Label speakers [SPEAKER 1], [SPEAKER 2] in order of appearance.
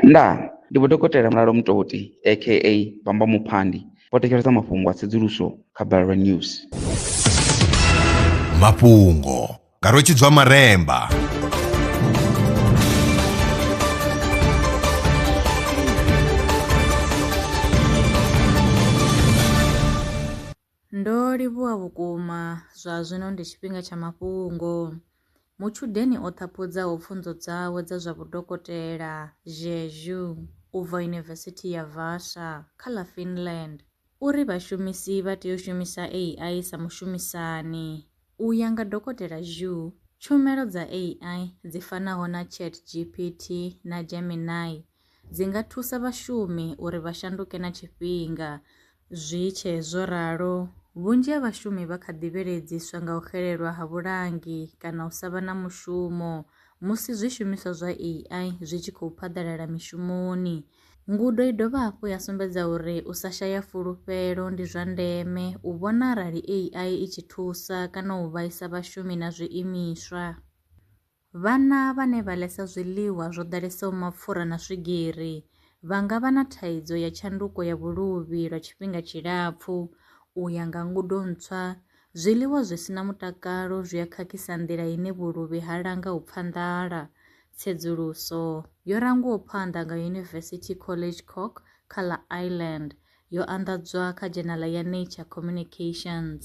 [SPEAKER 1] Ndaa! Ndi Vho Dokotela Mulalo Mutoti aka Bamba Muphandi vho thetshelesa mafhungo a tsedzuluso kha Balelwa News.
[SPEAKER 2] Mafhungo nga Rwetshidzwa Maremba.
[SPEAKER 3] Ndo livhuwa vhukuma! Zwa zwino ndi tshifhinga tsha mafhungo. Mutshudeni o ṱhaphudzaho pfunzo dzawe dza zwa vhudokotela, Zhezhu, u bva Yunivesithi ya Vaasa, kha ḽa Finland, u ri vhashumisi vha tea u shumisa AI sa mushumisani. U ya nga Dokotela Zhu, tshumelo dza AI dzi fanaho na ChatGPT na Gemini dzi nga thusa vhashumi uri vha shanduke na tshifhinga. Zwi tshe zwo ralo, vhunzhi ha vhashumi vha kha ḓi vhiledziswa nga u xelelwa ha vhulangi kana u sa vha na mushumo musi zwishumiswa zwa AI zwi tshi khou phaḓalala mishumoni. Ngudo i dovha hafhu ya sumbedza uri u sa shaya fulufhelo ndi zwa ndeme u vhona arali AI i tshi thusa kana u vhaisa vhashumi na zwiimiswa. Vhana vhane vha ḽesa zwiḽiwa zwo ḓalesaho mapfura na swigiri vha nga vha na thaidzo ya tshanduko ya vhuluvhi lwa tshifhinga tshilapfu. U ya nga ngudo ntswa, zwiḽiwa zwi si na mutakalo zwi a khakhisa nḓila ine vhuluvhi ha langa u pfa nḓala. Tsedzuluso yo rangwaho phanḓa nga University College Cork kha ḽa Ireland yo anḓadzwa kha dzhenala ya Nature Communications.